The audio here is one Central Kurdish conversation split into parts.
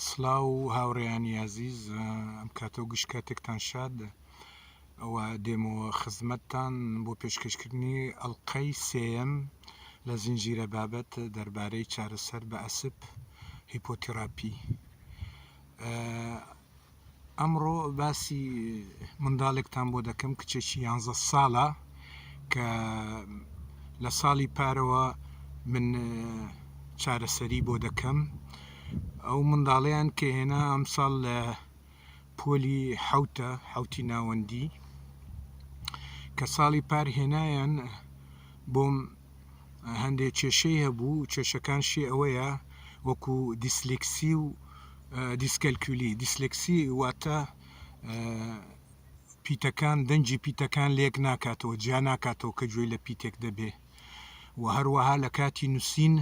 سلاو هاوڕێیانی ئازیز ئەم کاتە و گشت کاتێکتان شاد و دێمەوە خزمەتتان بۆ پێشکەشکردنی ئەڵلقەی سێەم لە زنجیرە بابەت دەربارەی چارەسەر بە ئەسپ هیپۆتیراپی ئەمڕۆ باسی منداڵێکتان بۆ دەکەم کچێکی یانزە ساڵە کە لە ساڵی پارەوە من چارەسەری بۆ دەکەم ئەو منداڵیان کە هێنا ئەمساڵ لە پۆلی حوتە حوتی ناوەندی کە ساڵی پار هێنایان بۆم هەندێک کێشەی هەبوو کێشەکانشی ئەوەیە وەکو دیسلیکسی و دیسکەلکولی، Dyslexia، واتە پیتەکان دەنگی پیتەکان لێک ناکاتەوە جیا ناکاتەوە کە گوێی لە پیتێک دەبێ و هەروەها لە کاتی نووسین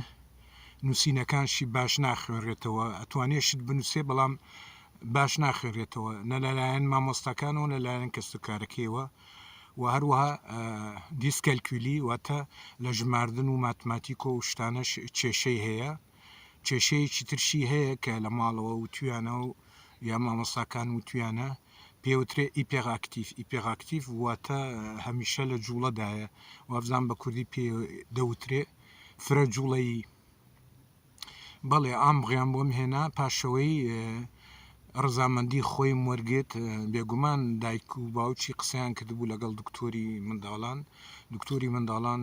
نووسینەکانشی باش ناخوێنرێتەوە ئەتوانێ شت بنووسێ بەڵام باش ناخوێنرێتەوە نە لەلایەن مامۆستاکانەوە لەلایەن کەس و کارەکەیەوە و هەروەها دیسکەلکولی واتە لە ژماردن و ماتماتیکۆ و شتانەش کێشەی هەیە کێشەیەکی ترشی هەیە کە لە ماڵەوە وتویانە و یا مامۆستاکان وتویانە پێ وترێ ئیپێغ ئاکتیف ئیپێغ ئاکتیف واتە هەمیشە لە جوڵەدایە وابزان بە کوردی پێ دەوترێ فرە جوڵەیی بەڵێ ئامغیان بۆم هێنا پاشەوەی ڕزامەندی خۆی وەرگێت بێگومان دایک و باوکی قسەیان کردبوو لەگەڵ دکتۆری منداڵان دکتۆری منداڵان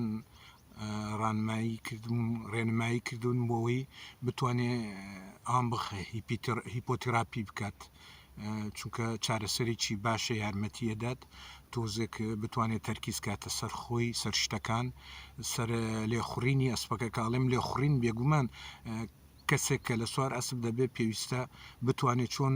ڕانمایی کردم ڕێنمایی کردوون بۆەوەی بتوانێ ئام بخە هیپۆتراپی بکات چونکە چارەسەرێکی باشە یارمەتیە دەات تۆزێک بتوانێت تەرکیز کاتە سەر خۆی سەر شتەکان سەر لێخوڕینی ئەسپەکە کاڵێم لێخوڕین بێگومان کەسێک کە لە سوار ئەسب دەبێت پێویستە بتوانێت چۆن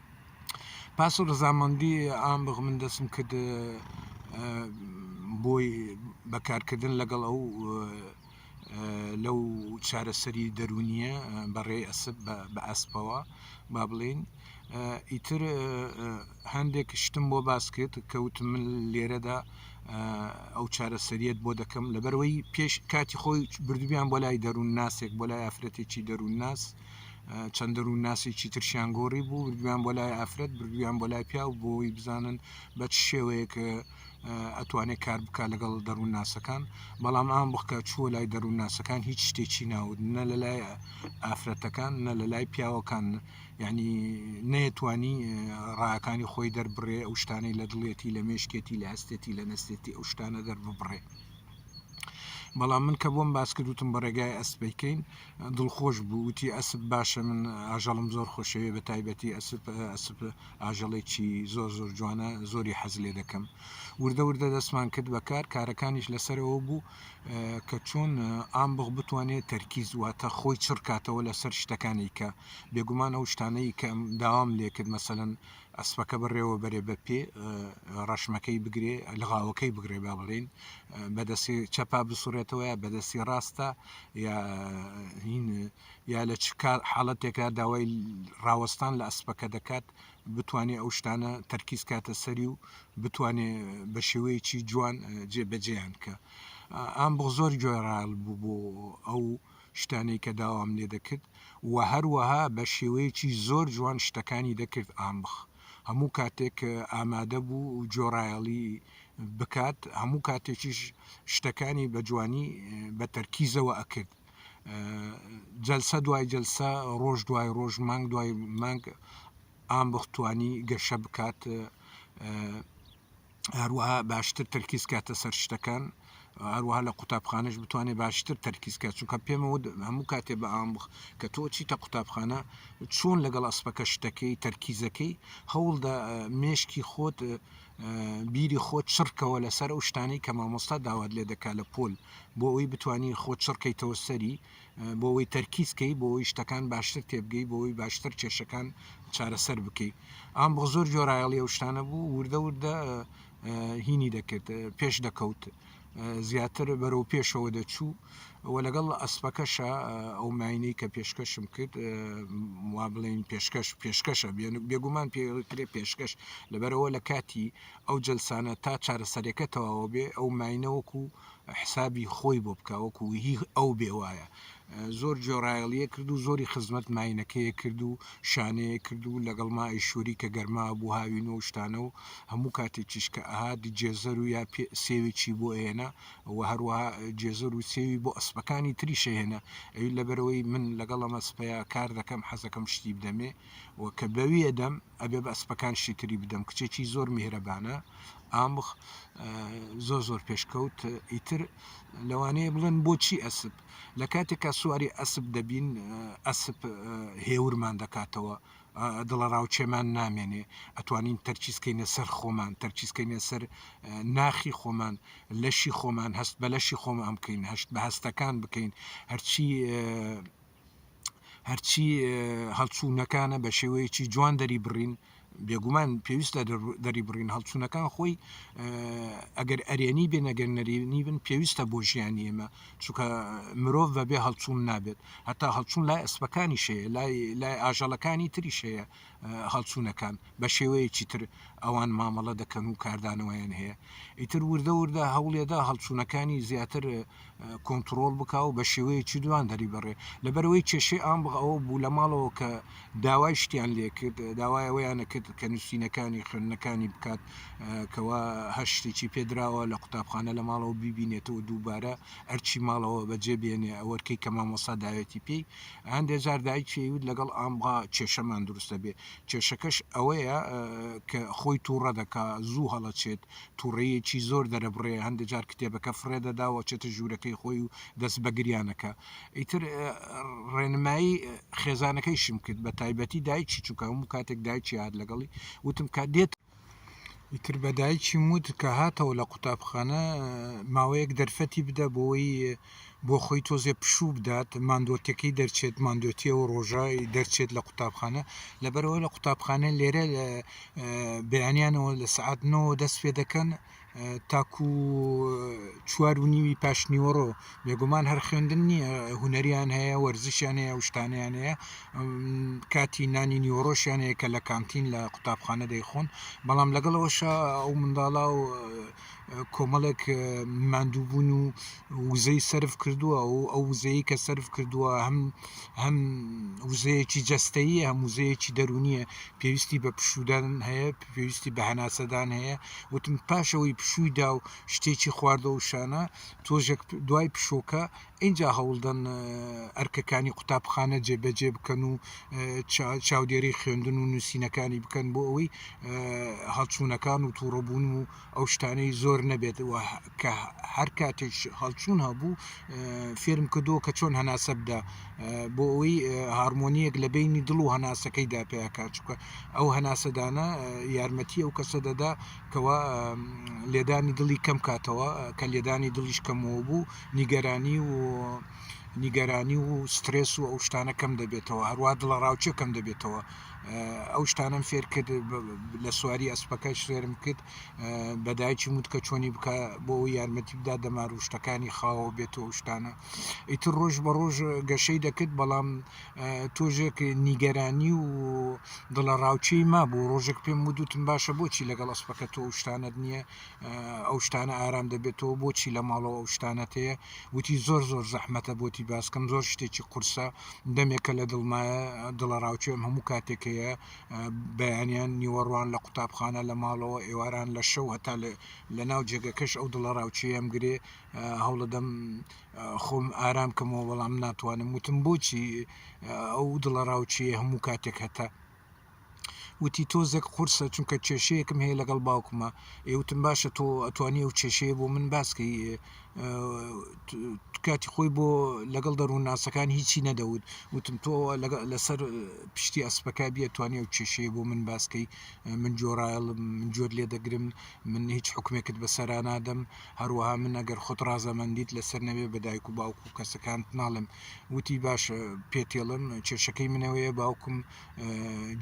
پاس و ڕزامەندی ئام بغ من دەسم کرد بۆی بەکارکردن لەگەڵ ئەو لەو چارەسەری دەرونیە بەڕێی ئەسب بە ئەسپەوە با بڵین ئیتر هەندێک شتم بۆ باس کرد کەوت من لێرەدا ئەو چارەسەریت بۆ دەکەم لەبەرەوەی پێش کاتی خۆی بردویان بۆ لای دەروون ناسێک بۆ لای ئافرەتێکی دەروون ناس چەند دەروونناسێکی ترشیان گۆڕی بوو بردویان بۆ لای ئافرەت بردویان بۆ لای پیاو بۆی بزانن بە چ شێوەیەک ئەتوانێت کار بک لەگەڵ دەروون ناسەکان بەڵام ئام بخکە چووە لای دەروون ناسەکان هیچ شتێکی ناود نە لە لای ئافرەتەکان نە لە لای پیاوەکان ینی نەیەتوانی ڕاکانی خۆی دەربڕێ ئەو شتانەی لە دڵێتی لە مێشکێتی لە هەستێتی لە نەستێتی ئەو شتانە دەرببڕێ. بەڵام من کە بۆم باس کردوتم بە ڕێگای ئەسپەیکەین دڵخۆش بوو وتی ئەسپ باشە من ئاژەڵم زۆر خۆشەوێ بە تایبەتی ئەسپ ئەسپ ئاژەڵێکی زۆر زۆر جوانە زۆری حەز لێ دەکەم وردە وردە دەستمان کرد بەکار کارەکانیش لەسەرەوە بوو کە چۆن ئامبغ بتوانێت تەرکیز واتە خۆی چڕکاتەوە لەسەر شتەکانی کە بێگومان ئەو شتانەی کە داوام لێ کرد مەسەەن ئەسپەکە بەڕێوە بەرێ بە پێ ڕەشمەکەی بگرێ لەغاوەکەی بگرێ با بڵین بەدەستی چەپا بسوڕێتەوە یا بەدەستی ڕاستە یا یا لە چ کار حاڵەتێکا داوای ڕاوەستان لە ئەسپەکە دەکات بتوانێت ئەو شتانە تەرکیز کاتە سەری و بتوانێ بە شێوەیەکی جوان جێبەجێیان کە ئام بۆ زۆر گوێڕال بوو بۆ ئەو شتانەی کە داوام لێ دەکرد وە هەروەها بە شێوەیەکی زۆر جوان شتەکانی دەکرد ئامبخ هەموو کاتێک ئامادە بوو جۆراێڵی بکات هەموو کاتێکیش شتەکانی بە جوانی بە تەرکیزەوە ئەکرد جەلسە دوای جەلسە ڕۆژ دوای ڕۆژ مانگ دوای مانگ ئامبخ توانی گەشە بکات هەروەها باشتر تەرکیز کاتە سەر شتەکان هەروەها لە قوتابخانەش بتوانێت باشتر تەرکیز کات چونکە پێمەوە هەموو کاتێ بە ئام بخ کە تۆ چیتە قوتابخانە چۆن لەگەڵ ئەسپەکە شتەکەی تەرکیزەکەی هەوڵدا مێشکی خۆت بیری خۆت چڕکەوە لەسەر ئەو شتانەی کە مامۆستا داوات لێ دەکا لە پۆل بۆ ئەوی بتانی خۆ چڕکەیتەوە سەری بۆوەی تەرکیز کەی بۆوەی شتەکان باشتر تێبگەی بۆوەی باشتر کێشەکان چارەسەر بکەی ئام بۆ زۆر جۆرایەڵی ئەو شتانە بوو وردە وردە هینی دەکرد پێش دەکەوت زیاتر بەرەو پێشەوە دەچوو و لەگەڵ ئەسپەکەشە ئەو ماینەی کە پێشکەشم کرد وا بڵێن پێشکەش پێشکەشە بێگومان پێکرێ پێشکەش لەبەرەوە لە کاتی ئەو جلسانە تا چارەسەرەکە تەواوە بێ ئەو ماینەوەکو حسابی خۆی بۆ بکا وەکو هی ئەو بێ وایە زۆر جۆرایەڵیە کرد و زۆری خزمەت ماینەکەیە کرد و شانەیە کرد و لەگەڵ ما ئیشوری کە گەرما بوو هاوین و شتانە و هەموو کاتێکیش کە ئەهات جێزەر و یا سێوێکی بۆ ئێنە و هەروەها جێزەر و سێوی بۆ ئەسپەکانی تری شەهێنە ئەوی لەبەرەوەی من لەگەڵ ئەمە سپەیە کار دەکەم حەزەکەم شتی بدەمێ و کە بەوی ئەدەم ئەبێ بە ئەسپەکان شتی تری بدەم کچێکی زۆر میهرەبانە ئامخ زۆر زۆر پێشکەوت ئیتر لەوانەیە بڵێن بۆچی ئەسب لە کاتێکا سواری ئەسب دەبین ئەسب هێورمان دەکاتەوە دڵە ڕاوچێمان نامێنێ ئەتوانین تەرچیسکەینە سەر خۆمان تەرچیسکەینە سەر ناخی خۆمان لەشی خۆمان هەست بە لەشی خۆمان بکەین هەشت بە هەستەکان بکەین هەرچی هەرچی هەڵچوونەکانە بە شێوەیەکی جوان دەری بڕین بێگومان پێویستە دەری بڕین هەڵچوونەکان خۆی ئەگەر ئەرێنی بێ نەگەر نەرێنی بن پێویستە بۆ ژیانی ئێمە چونکە مرۆڤ بەبێ هەڵچوون نابێت هەتا هەڵچوون لای ئەسپەکانی شەیە لای لای ئاژەڵەکانی تری شەیە هەڵچوونەکان بەشێوەیەکی تر ئەوان مامەڵە دەکەن و کاردانەوەیان هەیە ئیتر وردە وردە هەوڵێدا هەڵچوونەکانی زیاتر کۆنتترۆل بک و بە شێوەیەکی دوان دەری بڕێ لەبەرەوەی کێشەی ئام بغەوە بوو لە ماڵەوە کە داوای شتیان لێکرد داوای ئەوەیانە کرد کە نووسینەکانی خوێندنەکانی بکات کەوا هەر شتێکی پێدراوە لە قوتابخانە لە ماڵەوە بیبینێتەوە دووبارە ئەرچی ماڵەوە بەجێ بێنێ ئەوەرکەی کە مامۆسا داوێتی پێی هەندێ جار دایکی ئەیوت لەگەڵ ئامغا کێشەمان دروست دەبێ، کێشەکەش ئەوەیە کە خۆی توڕە دەکا، زوو هەڵەچێت، توڕەیەکی زۆر دەرەبڕێ، هەندێ جار کتێبەکە فڕێ دەدا و ئەچێتە ژوورەکەی خۆی و دەست بە گریان ئەکا. ئیتر ڕێنمایی خێزانەکەیشم کرد، بە تایبەتی دایکی، چونکە هەموو کاتێک دایکی ئەهات لەگەڵی، وتم کە دێت، ئیتر بە دایکیم وت کە هاتەوە لە قوتابخانە ماوەیەک دەرفەتی بدە بۆی بۆ خۆی تۆزێ پشوو بدات ماندۆتەکەی دەرچێت ماندۆتیە و ڕۆژای دەرچێت لە قوتابخانە لەبەرەوە لە قوتابخانە لێرە بەیانیانەوە لە سعاتنەوە دەست پێ دەکەن تاکو چوار و نیوی پاشنیوەڕۆ بێگومان هەر خوێندن نییە هوەریان هەیە وەرزشیان هەیە شتانیان هەیە کاتی نانی نیوەڕۆشیان هەیە کە لە کانتین لە قوتابخانە دەیخۆن بەڵام لەگەڵەوەش ئەو منداڵا و کۆمەڵێک ماندووبوون و وزەی سرف کردووە و ئەو وزەیە کە سرف کردووە هەم هەم وزەیەکی جەستەیە هەم وزەیەکی دەرونیە پێویستی بە پشودان هەیە پێویستی بە هەناسەدان هەیە وتم پاشەوەی پشووی دا و شتێکی خواردە و شانە تۆژێک دوای پشۆکە اینجا هەوڵدەن ئەرکەکانی قوتابخانە جێبەجێ بکەن و چاودێری خوێندن و نووسینەکانی بکەن بۆ ئەوەی هەڵچوونەکان و تووڕەبوون و ئەو شتانەی زۆر نەبێت کە هەر کاتێک هەڵچوون هەبوو فێرم کردووە کە چۆن هەناسە بدە بۆ ئەوی هارمۆنیەک لە بینی دڵ و هەناسەکەی دا پێکات چکە ئەو هەناسەدانە یارمەتی ئەو کەسە دەدا کەوا لێدانی دڵی کەم کاتەوە کە لێدانی دڵیش کەمەوە بوو نیگەرانی و نیگەرانی و سترس و ئەو شتانە کەم دەبێتەوە هەروە دڵە ڕاوچە کەم دەبێتەوە ئەو شتانەم فێر کرد لە سواری ئەسپەکەش فێرم کرد بە دایکی وت کە چۆنی بکە بۆ ئەو یارمەتی بدا دەمار و شتەکانی خاوە بێت و شتانە ئیتر ڕۆژ بە ڕۆژ گەشەی دەکرد بەڵام تۆژێک نیگەرانی و دڵە ڕاوچی ما بوو ڕۆژێک پێم ودوتم باشە بۆچی لەگەڵ ئەسپەکە تۆ شتانت نییە ئەو شتانە ئارام دەبێتەوە بۆچی لە ماڵەوە ئەو شتانەت هەیە وتی زۆر زۆر زەحمەتە بۆتی باسکەم زۆر شتێکی قورسە دەمێکە لە دڵمایە دڵە ڕاوچێم هەموو کاتێک هەیە بەیانیان نیوەڕوان لە قوتابخانە لە ماڵەوە ئێواران لە شەو هەتا لە ناو جێگەکەش ئەو دڵە ڕاوچەیەم گرێ هەوڵەدەم خۆم ئارام کەمەوە بەڵام ناتوانم وتم بۆچی ئەو دڵە ڕاوچەیە هەموو کاتێک هەتە وتی تۆزێک قورسە چونکە کێشەیەکم هەیە لەگەڵ باوکمە ئێ وتم باشە تۆ ئەتوانی ئەو کێشەیە بۆ من باسکەی کاتی خۆی بۆ لەگەڵ دەروونناسەکان هیچی نەدەوت وتم تۆ لەسەر پشتی ئەسپەکە بیە توانێ و کێشەیە بۆ من باسکەی من جۆرایڵ من جۆر لێ دەگرم من هیچ حکومێکت بەسەرا نادەم هەروەها من ئەگەر خۆت ڕازەمەندیت لەسەر نەوێ بەدایک و باوکو کەسەکانت ناڵم وتی باشە پێتێڵم کێشەکەی منەوەیە باوکم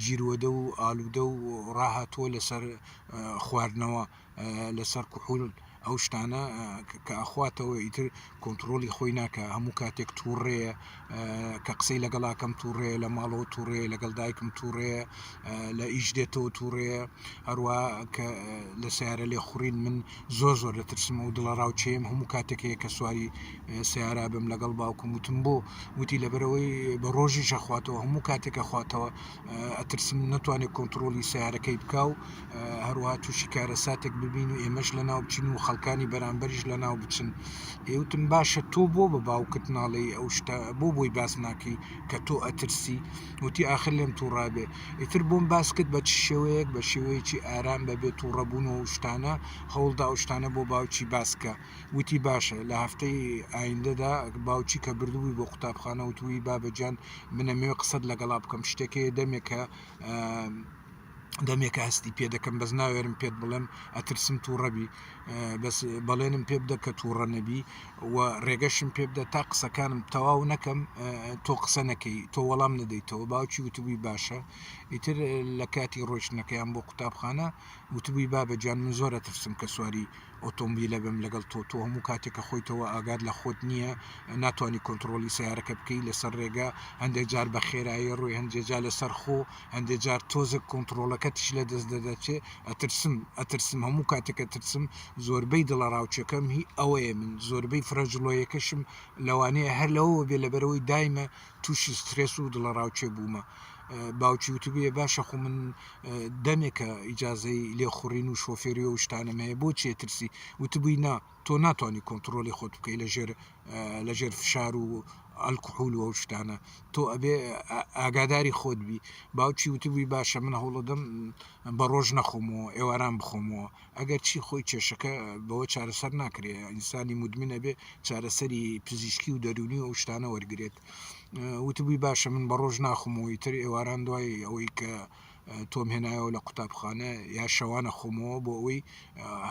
جیروەدە و ئالودە و ڕاهاتووە لەسەر خواردنەوە لەسەر کحول ئەو شتانە کە ئەخواتەوە ئیتر کۆنتترۆلی خۆی ناکە هەموو کاتێک تووڕەیە کە قسەی لەگەڵاکەم تووڕەیە لە ماڵەوە تووڕەیە لەگەڵ دایکم تووڕەیە لە ئیش دێتەوە تووڕەیە هەروە کە لە سیارە لێ خوڕین من زۆر زۆر دەترسم و دڵەڕاوکێم هەموو کاتێک هەیە کە سواری سیارا بم لەگەڵ باوکم وتم بۆ وتی لەبەرەوەی بە ڕۆژی ژەخواتەوە هەموو کاتێکە خواتەوە ئەترسم نەتوانێت کۆنتترۆلی سیارەکەی بکە و هەروە تووشی کارە ساتێک ببین و ئێمەش لە ناو بچین و خەڵکانی بەرامبەریش لە ناو بچن ئێوتم باشە تۆ بۆ بە باوکت ناڵێ ئەو شتە بۆ بۆی باس ناکەی کە تۆ ئەترسی و وتی ئاخر لێم تووڕابێ ئیتر بۆم باس کرد بە چ شێوەیەک بە شێوەیەکی ئارام بەبێ تووڕەبوون و شتانە هەوڵدا و شتانە بۆ باوکی باسکە وتی باشە لە هەفتەی ئایندەدا باوکی کە بردبووی بۆ قوتابخانە وتووی بابەجان منەمەوێ قسەت لەگەڵا بکەم شتێکەیە دەمێکە دەمێکە هەستی پێ دەکەم بەس ناوێرم پێت بڵێم ئەترسم تووڕەبی بەس بەڵێنم پێ بدە کە تووڕە نەبی و ڕێگەشم پێ بدە تا قسەکانم تەواو نەکەم تۆ قسە نەکەی تۆ وەڵام نەدەیتەوە باوکی وتبووی باشە ئیتر لە کاتی ڕۆشتنەکەیان بۆ قوتابخانە وتبووی بابە جان من زۆرە ترسم کە سواری ئۆتۆمبیلە بم لەگەڵ تۆ تۆ هەموو کاتێکە خۆیتەوە ئاگاد لە خۆت نییە ناتوانانی کۆنتترۆلی سیارەکە بکەی لەسەر ڕێگە هەندێک جار بە خێرایی ڕووی هەندێجا لەسەر خۆ هەندێ جار تۆزە کۆنتترۆلەکەتیش لە دەست دەدەچێ ئەترسم ئەترسم هەموو کاتێک ئەترسم زۆربەی دڵە ڕاوچەکەم هی ئەوەیە من زۆربەی فرەجڵۆیەکەشم لەوانەیە هەر لەوە بێ لە بەرەوەی دایمە تووشی سترێس و دڵە ڕاوچێ بوومە باوکی وتبێ باشە خو من دەمێکە ئیجاازەی لێخوڕین و شۆفێری و شتانم هەیە بۆ چێترسی وتبووی نا تۆ ناتوانی کۆنتڕۆلی خۆت بکەی لە ژێر لە ژێر فشار و ئەلکحول و شتانە تۆ ئەبێ ئاگاداری خۆت بی باوکی وتبووی باشە من هەوڵەدەم بە ڕۆژ نەخۆمەوە ئێواران بخۆمەوە ئەگەر چی خۆی کێشەکە بەوە چارەسەر ناکرێ ئینسانی مدمنە بێ چارەسەری پزیشکی و دەرونی و شتانە وەرگێت وتبووی باشە من بە ڕۆژ ناخمەوەی تر ئێواران دوای ئەوەی کە تۆم هێنایەوە لە قوتابخانە یا شەوانە خۆمەوە بۆ ئەوەی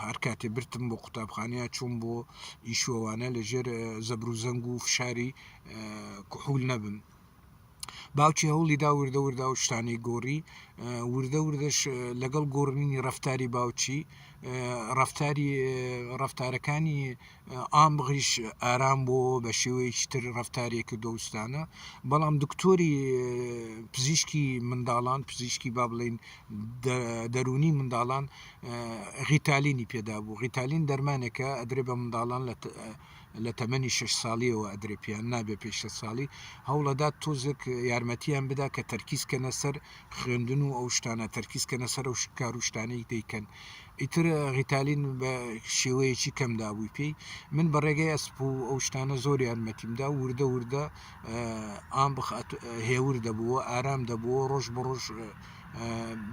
هەر کاتێ برتم بۆ قوتابخانەیە چوون بۆ ئیشوەوانە لەژێر زەبر و زەنگ و فشاری کحول نەبم باوکی هەوڵی دا وردە وردە و شتانی گۆڕی وردە وردەش لەگەڵ گۆڕنی ڕفتاری باوچی ڕفتاری ڕفتارەکانی ئام بغیش ئارام بۆ بە شێوەیەکی تر ڕفتارێک کردۆستانە بەڵام دکتۆری پزیشکی منداڵان پزیشکی با بڵین دەرونی منداڵان غیتالینی پێدا بوو غیتالین دەرمانێکە ئەدرێ بە منداڵان لە لە تەمەنی شش ساڵیەوە ئەدرێ پێیان نابێ پێ شە ساڵی هەوڵەدات تۆزێک یارمەتیان بدا کە تەرکیز کەنە سەر خوێندن و ئەو شتانە تەرکیز کەنە سەر و کاروشتانەی دەیکەن ئیتر ڕیتالین بە شێوەیەکی کەم دابووی پێی من بە ڕێگەی ئەسپ و ئەو شتانە زۆر یارمەتیمدا وردە وردە ئام بخات هێور دەبووە ئارام دەبووە ڕۆژ بە ڕۆژ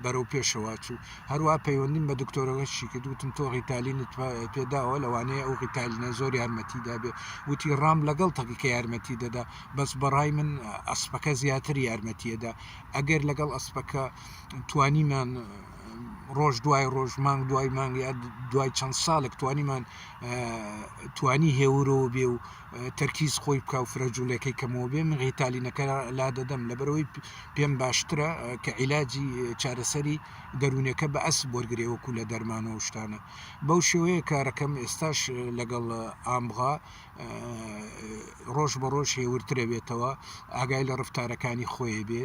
بەرەو پێشەوە چوو هەروە پەیوەندیم بە دکتۆرەکەشی کرد وتم تۆ ڕیتالینت پێداوە لەوانەیە ئەو ڕیتالینە زۆر یارمەتی دابێ وتی ڕام لەگەڵ تەقی کە یارمەتی دەدا بەس بەڕای من ئەسپەکە زیاتر یارمەتیەدا ئەگەر لەگەڵ ئەسپەکە توانیمان ڕۆژ دوای ڕۆژ مانگ دوای مانگ یا دوای چەند ساڵێک توانیمان توانی هێورەوە بێ و تەرکیز خۆی بکە و فرەجوولەکەی کەمەوە بێ من غیتالینەکە لا دەدەم لەبەرەوەی پێم باشترە کە عیلاجی چارەسەری دەروونەکە بە ئەس بۆرگێ وەکو لە دەرمانەوە شتانە بەو شێوەیە کارەکەم ئێستاش لەگەڵ ئامغا ڕۆژ بە ڕۆژ هێورترەبێتەوە ئاگای لە ڕفتارەکانی خۆی بێ